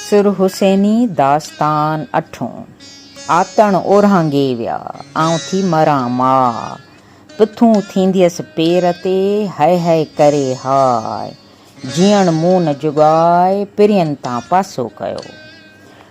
سرحسيني داستان اٺون. آتڻ اورهانگي ويا، آئون ٿي مران ماء. پٿون ٿينديس پير تي، هئي هئي ڪري هاء. جيئڻ مون نه جڳائي، پرين تان پاسو ڪيو.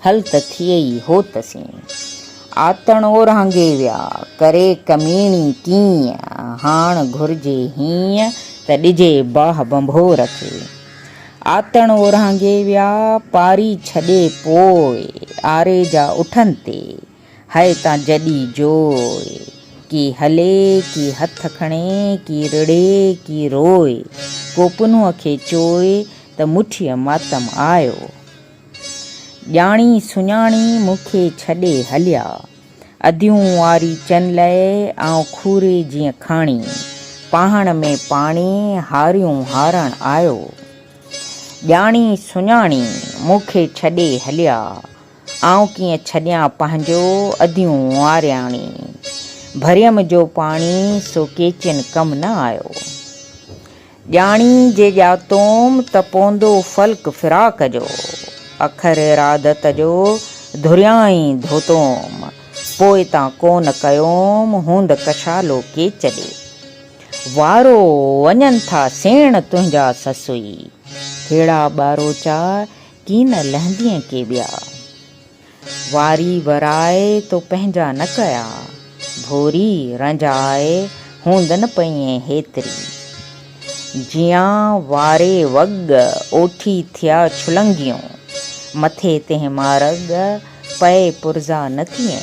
هل ته ٿئي ئي هو ته سين. آتڻ اورانگهي ويا، ڪري ڪميڻي ڪيئن، هاڻ گهرجي هيئن ته ڏجي باهه ڀنڀور کي. آتڻ اورانگهي ويا، پاري ڇڏي پوء، آري جا اٺن تي، هئي تان جڏي جوء. ڪي هلي، ڪي هٿ کڻي، ڪي رڙي، ڪي روء، ڪو پنهونء کي چوء ته مٺيء ماتم آيو. ڄاڻي سڃاڻي مون کي ڇڏي هليا. اديون واري چن لئي آئون کوري جيئن کاڻي. پاهڻ ۾ پاڻي هاريون هارڻ آيو. ڄاڻي سڃاڻي مون کي ڇڏي هليا. آئون ڪيئن ڇڏيان پنهنجو اديون وارياڻي. ڀريم جو پاڻي سو ڪيچين ڪم نه آيو. ڄاڻي جي ڄاتوم ته پوندو فلڪ فراق جو، اکر ارادت جو ڌريائين ڌوتوم، پوء تان ڪون ڪيوم هوند ڪشالو ڪيچ ڏي. وارو وڃن ٿا سيڻ تنهنجا سسئي، هيڙا ٻاروچا ڪين لهندين ڪي ٻيا. واري ورائي تو پنهنجا نه ڪيا، ڀوري رنجائي هوندن پئين هيتري. جيان واري وڳ اوٺي ٿيا ڇلنگيون، مٿي تنهن مارڳ پئي پرزا نه ڪيئي.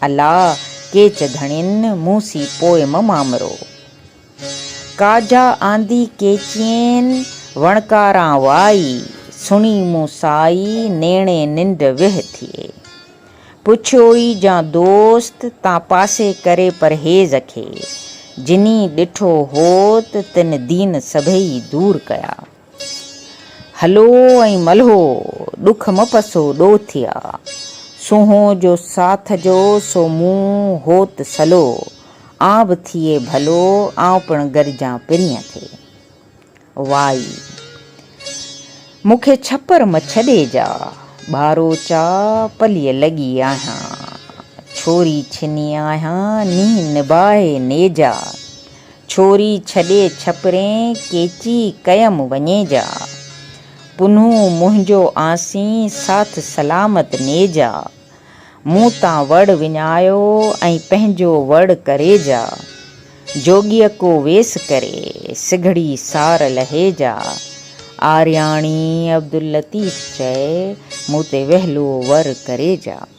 الا ڪيچ ڌڻين، مون سي پوئم مامرو. ڪاجھا آندي ڪيچين، وڻڪاران وائي. سڻي مون سائي، نيڻي ننڊ ويھ ٿئي. پڇيوئي جان دوست، تان پاسي ڪري پرھيز کي. جنھين ڏٺو ھوت، تن دين سڀئي دور ڪيا. هلو ۽ ملهو، ڏک م پسو ڏو ٿيا. سونهون جو ساٿ جو، سو مون هوت سلو. آن به ٿئي ڀلو، آئون پڻ گڏجان پرينء تي. وائي. مون کي ڇپر م ڇڏي جا، ٻارو چا پليء لڳي آهيان. ڇوري ڇني آهيان، نينهن نباهي نيجا. ڇوري ڇڏي ڇپرين ڪيچي ڪيم وڃي جا. پنهون منهنجو آنسين ساٿ سلامت ني جا. مون تان وڙ وڃايو ۽ پنهنجو وڙ ڪري جا. جوڳيء ڪو ويس ڪري سگهڙي سار لهي جا. آرياڻي عبداللطيف چئي مون تي ويهلو ور ڪري جا.